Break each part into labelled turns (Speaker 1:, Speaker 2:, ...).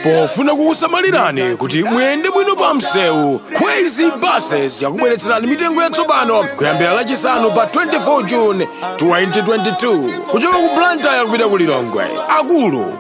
Speaker 1: pofuna kukusamalirani kuti muyende bwino pa msewu kwezy buses yakubweretserani mitengo yatsopano kuyambira lachisanu pa 24 june 2022 kuchoka ku blantyre kupita ku lilongwe akulu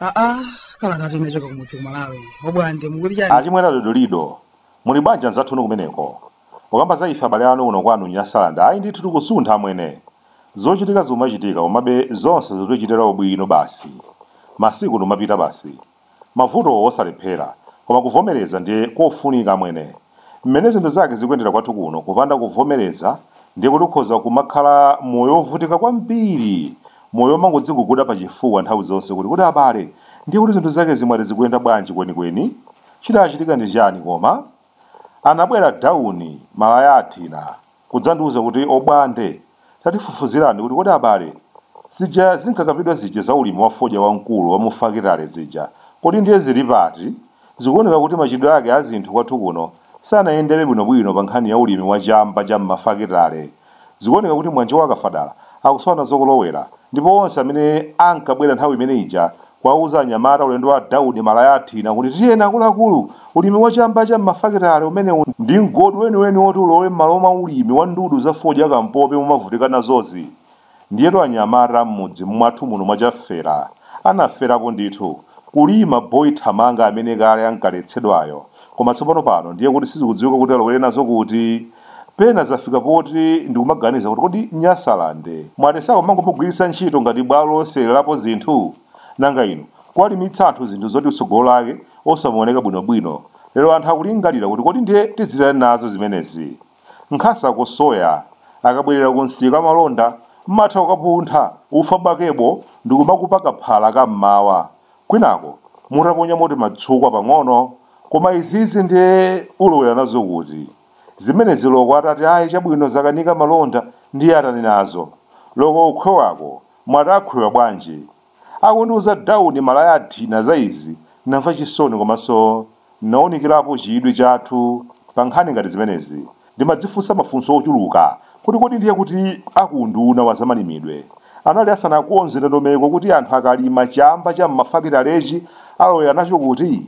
Speaker 2: aa kalata inachoka kumudzi ku malawi obwande mukuti chani achimwera
Speaker 3: dodolido muli banja nzathunu kumeneko ukamba za ife abale anu kuno kwanu nyasalanda ayi ndithu tikusuntha amwene zochitika zomachitika komabe zonse zotichitira ubwino basi masiku nomapita basi Mavuto osalephera, koma kuvomereza ndiye kofunika amwene. Mmene zinthu zake zikuyendera kwathu kuno kupanda kuvomereza ndiye kuti ukhoza kumakhala moyo ovutika kwambiri, moyo omangodziguguda pa chifuwa nthawi zonse kuti kodi abale ndiye kuti zinthu zakezi mwati zikuyenda bwanji kwenikweni? Chidachitika ndi chani koma? Anabwera Dauni Malaya Athina kudzandiuza kuti obwande tatifufuzirani kuti kodi abale zija zinkakambidwa zija za ulimi wa fodya wamkulu wa mufakitale zija kodi ndiye zili pati? Zikuoneka kuti machitidwe ake azinthu kwathu kuno sanayendebe bwinobwino pankhani ya ulimi wa chamba cha mmafakitale. Zikuoneka kuti Mwanje wa Kafadala akusowa nazo kolowera ndipo onse amene ankabwera nthawi imene ija kuwauza anyamata ulendo wa Dauni Malaya Athina kuti tiyeni akuluakulu, ulimi wa chamba cha m'mafakitale umenewu ndi mgodi weniweni woti ulowe m'malo mwa ulimi wa ndudu za fodya kampopi mumavutika nazozi. Ndiyetu anyamata mmudzi mmwathu muno mwa Chafera anaferapo ndithu, kulima boy thamanga amene kale ankaletsedwayo koma tsopano pano ndiye kuti sizikudziwika kuti alowere nazo kuti. Pena zafika poti ndikumaganiza kuti kodi Nyasaland mwati sakumangomugwiritsa ntchito ngati bwalo losewererapo zinthu? Nanga inu kuwalimitsa anthu zinthu zoti tsogolo lake osamaoneka bwinobwino lero anthu akulingalira kuti kodi ndiye tidzitani nazo zimenezi? nkhasako soya akabwerera ku msika amalonda mmatha kukapuntha ufa bakebo ndikumakupa kaphala ka mmawa kwinako mutaponyamo timatsukwa pang'ono koma izizi ndiye ulowera nazo kuti zimenezi loko atati ayi chabwino zakanika malonda ndiye atani nazo loko kukhwewako mwati akhwewa bwanji Akundiuza Dauni Malaya Athina za izi, namva chisoni komanso nawunikirapo chidwi chathu pa nkhani ngati zimenezi. Ndimadzifunsa mafunso ochuluka kuti kodi ndiye kuti a ku unduna wa zamalimidwe anali asanakonze ndondomeko kuti anthu akalima chamba cha m'mafakitalechi alowera nacho kuti?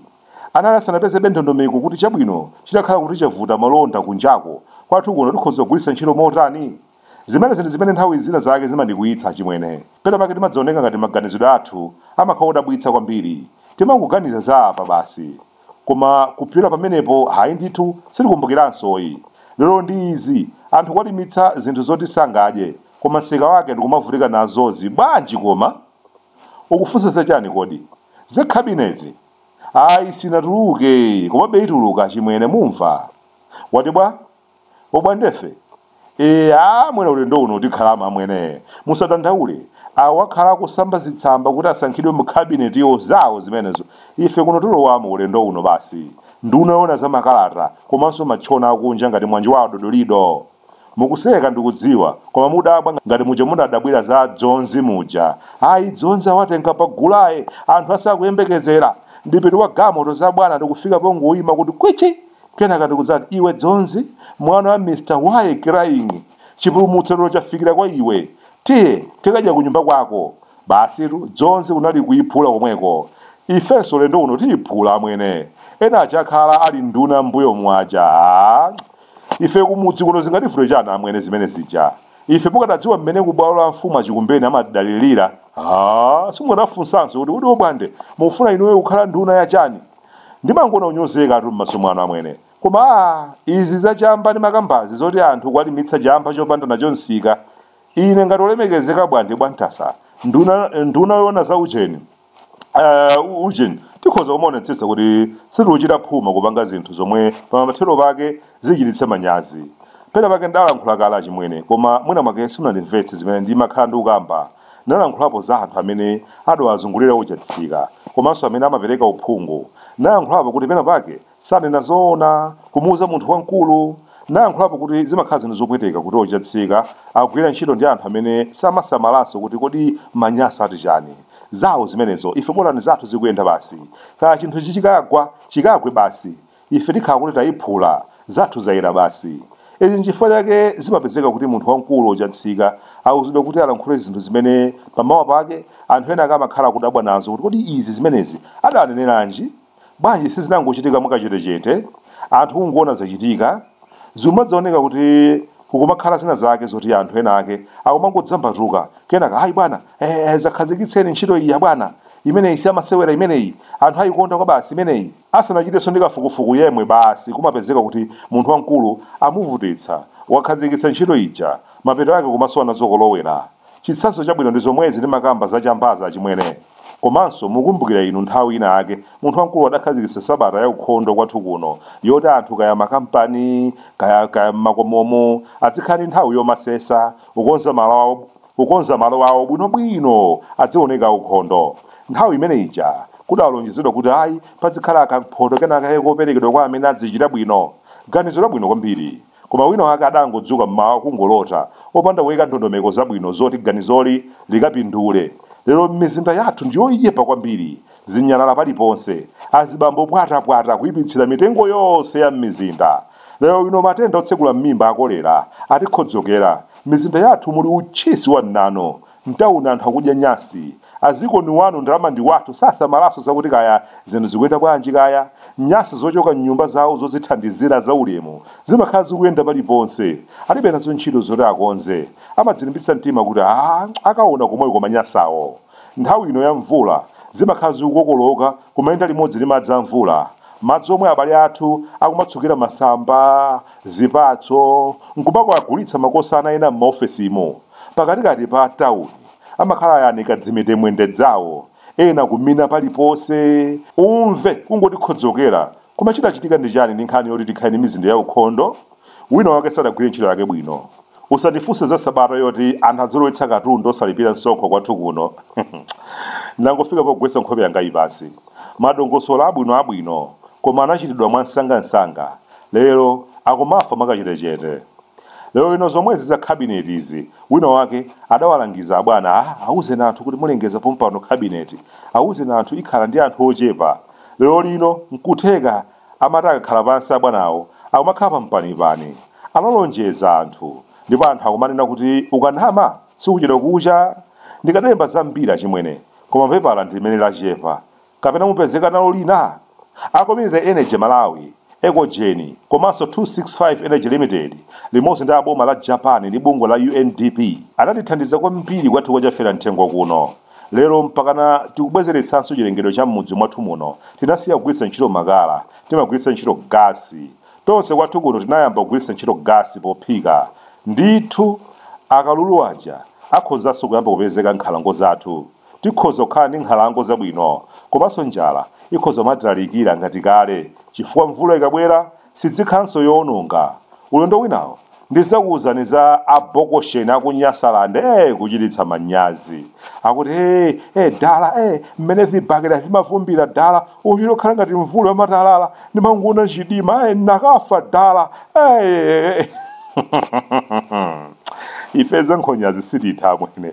Speaker 3: Anali asanapezebe ndondomeko kuti chabwino chitakhala kuti chavuta malonda kunjako, kwathu kuno tikhoza kugwiritsa ntchito motani? Zimenezi ndi zimene nthawi zina zake zimandikwiyitsa achimwene. Pena pake timadzaoneka ngati maganizidwe athu amakhala odabwitsa kwambiri. Timangoganiza za apa basi. Koma kupyola pamenepo hayi ndithu sitikumbukiranso yi. Lero ndi izi, anthu kwalimitsa zinthu zoti sangadye koma msika wake ndikumavutika nazozi bwanji koma? Ukufunsa za chani kodi? Za cabinet? Ayi sinatuluke yi komabe ituluka achimwene mumva? Wati bwa? obwande ife ee amwene ulendo uno tikhalamo amwene musadandaule awo akhala akusamba zitsamba kuti asankhidwe mu kabinetiyo zawo zimenezo ife kuno tilowamo ulendo uno basi nduna yoona za makalata komanso matchona akunja ngati mwanjo wa adodolido mukuseka ndikudziwa koma mudabwa ngati muja munadabwira za dzonzi muja ayi dzonzi awatenga pa gulaye anthu asakuyembekezera ndipitu wa galimoto za bwana ndi kufika pongoyima kuti kwichi kenaka ndikudzati iwe dzonzi mwana wa mr why crying chipulumutso lero chafikira kwa iwe tiye tikadya ku nyumba kwako basitu dzonzi kunali kuyiphula komweko ifenso ulendo uno tiyiphula amwene ena achakhala ali nduna mbuyo muja Ah, ife kumudzi kuno zingativute chani amwene zimene zija ife mukadadziwa mmene kubwalo la mfumu achikumbeni amadalirira ah, simukadafunsanso kuti kuti obwande mufuna inuyo kukhala nduna ya chani ndimangoona kunyozekatu m'maso mwanu amwene koma aa izi za chamba ndimakambazi zoti anthu kuwalimitsa chamba chopanda nacho msika ine ngati olemekezeka bwande bwantasa nduna nduna yoona za ujeni uh, ujeni tikhoza kumaonetsetsa kuti sitikuchita phuma kupanga zinthu zomwe pamathero pake zichititse manyazi pena pake ndalankhula kale achimwene koma mwina mwake simunandimvetse zimene ndimakhala ndikukamba Nalankhulapo za anthu amene adawazungulira o Chatsika komanso amene amapereka uphungu. Nalankhulapo kuti pena pake sanena zoona kumuuza munthu wamkulu. Nalankhulapo kuti zimakhala zinthu zopweteka kuti o Chatsika akugwira ntchito ndi anthu amene samasamalanso kuti kodi Manyasa ati chani. Zawo zimenezo, ife bolani zathu zikuyenda basi. Kaya chinthu ichi chikagwa, chikagwe basi. ife tikhala kuti tayiphula, zathu zayera basi. Izi nchifukwa chake zimapezeka kuti munthu wamkulu o Chatsika auzidwa kuti alankhule zinthu zimene pamawa pake anthu ena ake amakhala akudabwa nazo kuti kodi izi zimenezi adaneneranji? Bwanji sizinangochitika mwakachetechete? Anthu kungoona zachitika? Zikumadzaoneka kuti kukumakhala zina zake zoti anthu ena ake akumangodzambatuka kenaka hayi bwana eh, eh, zakhazikitseni ntchito iyi abwana imeneyi siyamasewera imeneyi anthu ayikonda kwabasi imeneyi Asanachitenso ndi kafukufuku yemwe basi kumapezeka kuti munthu wamkulu amuvutitsa, wakhazikitsa ntchito ija, mapeto ake kumasowa nazo kolowera. Chitsanzo chabwino ndi zomwezi ndimakamba za chambazi achimwene. Komanso mukumbukira inu nthawi ina yake munthu wamkulu adakhazikitsa sabata ya ukhondo kwathu kuno yoti anthu kaya makampani kaya kaya m'makomomu azikhala ndi nthawi yomasesa, kukonza malo awo. kukonza malo awo bwinobwino aziwoneka aukhondo nthawi imene ija kudalonjezedwa kuti ayi pazikhala kamphoto kenakake koperekedwa kwa amene azichita bwino ganizo labwino kwambiri koma wina wake adangodzuka mmawa kungolota opanda kuyika ndondomeko zabwino zoti ganizoli likapindule lero m'mizinda yathu ndiyoipa kwambiri zinyalala paliponse azibambo pwatapwata kuipitsira mitengo yonse ya m'mizinda lero lino matenda otsegula m'mimba akolera atikhodzokera mizinda yathu muli utchisi wa mnanu mtauni anthu akudya nyasi a ziko ndi wanu ndalama ndi wathu sasamalanso zakuti kaya zinthu zikuyenda bwanji kaya nyasi zochoka m'nyumba zawo zozithandizira zaulemu zimakhala zikuyenda paliponse alibe nazo ntchito zoti akonze amadzilimbitsa mtima kuti a akaona komweko manyasawo Nthawi ino ya mvula, zimakhala zikukokoloka kumayenda limodzi ndi madzi a mvula. Madzi omwe abale athu akumatsukira masamba, zipatso, n'kumakagulitsa makosana ena m'maofesimu, pakatikati pa tauni, amakhala ayanika dzimitemwende dzawo, ena kumina paliponse. Umve kungoti khodzokera! Koma chidachitika ndi chani ndi nkhani yoti tikhale ndi mizinda yaukhondo? Wina wake sadagwire ntchito yake bwino. Usandifunse za sabata yoti anthu azilowetsa katundu osalipira msonkho kwathu kuno. Ndangofika pogwetsa nkhope yangayi pansi. Madongosolo abwinoabwino koma anachitidwa mwansangansanga. Lero akumafa mwakachetechete. Lero lino zomwezi za kabineti izi, wina wake adawalangiza abwana, ah, auzeni anthu kuti mulengeza pompano kabineti, auzeni anthu ikhala ndi anthu ochepa. Lero lino nkutheka Amati akakhala pansi abwanawo akumakhala pa mpanipani. Analonjeza anthu ndipo anthu akumanena kuti ukanama sikuchedwa kucha. Ndikadalemba zambiri achimwene koma pepala ndi limene lachepa. Kapena mupezeka nalo lina? A Community Energy Malawi, Ecogen, komanso 265 Energy Limited limodzi ndi a boma la Japan ndi bungwe la UNDP anatithandiza kwambiri kwathu kwa Chafera Mthengo kuno. Lero mpakana tikubwezeretsanso chilengedwe cha m'mudzi mwathu muno. Tinasiya kugwiritsa ntchito makala, timagwiritsa ntchito gasi. Tonse kwathu kuno tinayamba kugwiritsa ntchito gasi pophika. Ndithu, akalulu aja akhozanso kuyamba kupezeka m'nkhalango zathu. Tikhoza kukhala ndi nkhalango zabwino. Komanso njala ikhoza kumatitalikira ngati kale chifukwa mvula ikabwera sidzikhalanso yoononga. Ulendo winawo ndizakuuzani za a Bokosheni aku Nyasaland ee kuchititsa manyazi. Akuti ee ee dala ee mmene vibakera vimavumbira dala uchita kukhala ngati mvula yamatalala ndimangoona mdima ee nakafa dala ee ife za nkhonyazi sititha amwene.